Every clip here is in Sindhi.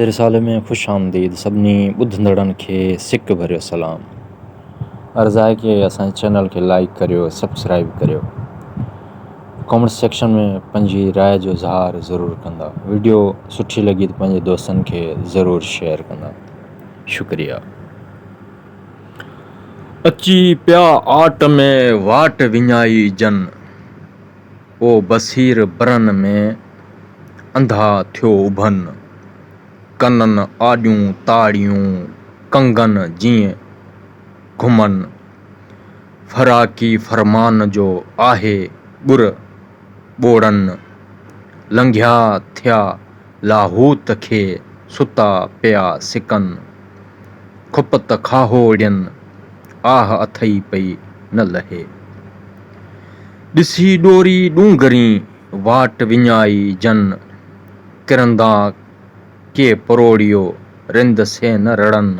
رسالي ۾ خوش آمديد سڀني ٻڌندڙن کي سڪ ڀريو سلام عرض آهي ڪي اسان جي چينل کي لائيڪ ڪريو سبسڪرائيب ڪريو ڪامينٽ سيڪشن ۾ پنهنجي راء جو اظهار ضرور ڪندا ويڊيو سٺي لڳي ته پنهنجي دوستن کي ضرور شيئر ڪندا شڪريا. اچي پيا آٽ ۾ واٽ وڃائي جن. او بصير برن ۾ انڌا ٿيو اڀن، ڪنن آڏيون تاڙيون ڪنگن جيئن گهمن، فراقي فرمان جو آهي ٻر ٻوڙن، لنگهيا ٿيا لاهوت کي ستا پيا سڪن، کپت کاهوڙين آهه اٿئي پئي نه لهي. ڏسي ڏوري ڏونگرين واٽ وڃائي جن، ڪرندا ڪي پروڙيو رند سي نه رڙن.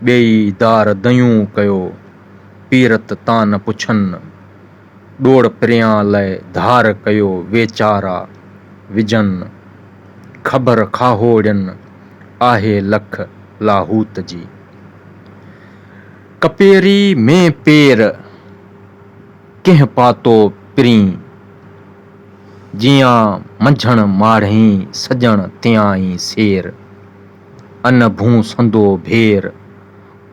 ٻيئي دار ديون ڪيو، پيرت تان نه پڇن. ڏوڙ پريان لئه ڌار ڪيو ويچارا وجهن خبر کاهوڙين آهي لک لاهوت جي ڪپيري مين پير ڪنهن پاتو پرين جيان منجهڻ ماڙهين سڄڻ تيائين سير ان ڀونسندو ڀير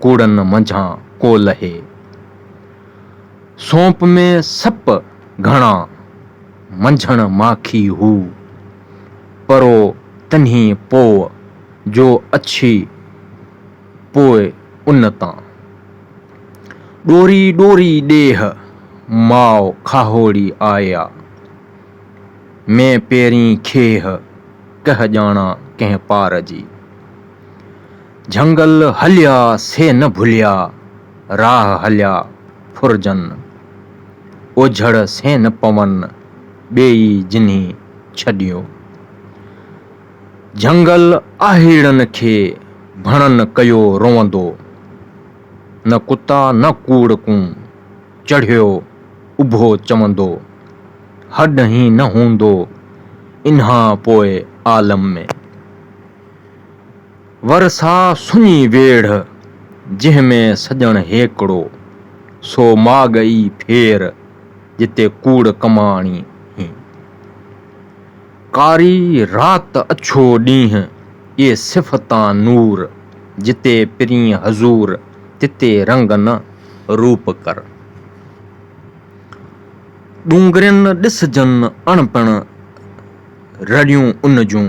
ڪوڙن منجهان ڪو لهي سونپ ۾ سپ گهڻا، منجهڻ ماکي هو. پرو تنهي پوء، جو اڇي پوء ان تان. ڏوري ڏوري ڏيهه، ماء کاهوڙي آيا. مين پيرين کيهه، ڪهه ڄاڻان ڪنهن پار جي. جهنگل هليا سي نه ڀليا، راهه هليا ڦرجن. اوجهڙ سين نه پون، ٻي ئي جنھي ڇڏيو. جهنگل آهيڙن کي ڀڻن ڪيو روئندو. نه ڪتا نه ڪوڙ ڪون، چڙهيو اڀو چوندو. هڏ هين نه هوندو، انھان پوء عالم ۾. ورسا سڃي ويڙهه، جنهن ۾ سڄڻ هيڪڙو، سو ماڳ ئي ڦير، جتي ڪوڙ ڪماڻي هين. ڪاري رات اڇو ڏينهن، اهي صفتان نور، جتي پرين حضور، تتي رنگ نه روپ ڪر. ڏونگرين ڏسجن اڻپڻ، رڙيون ان جون.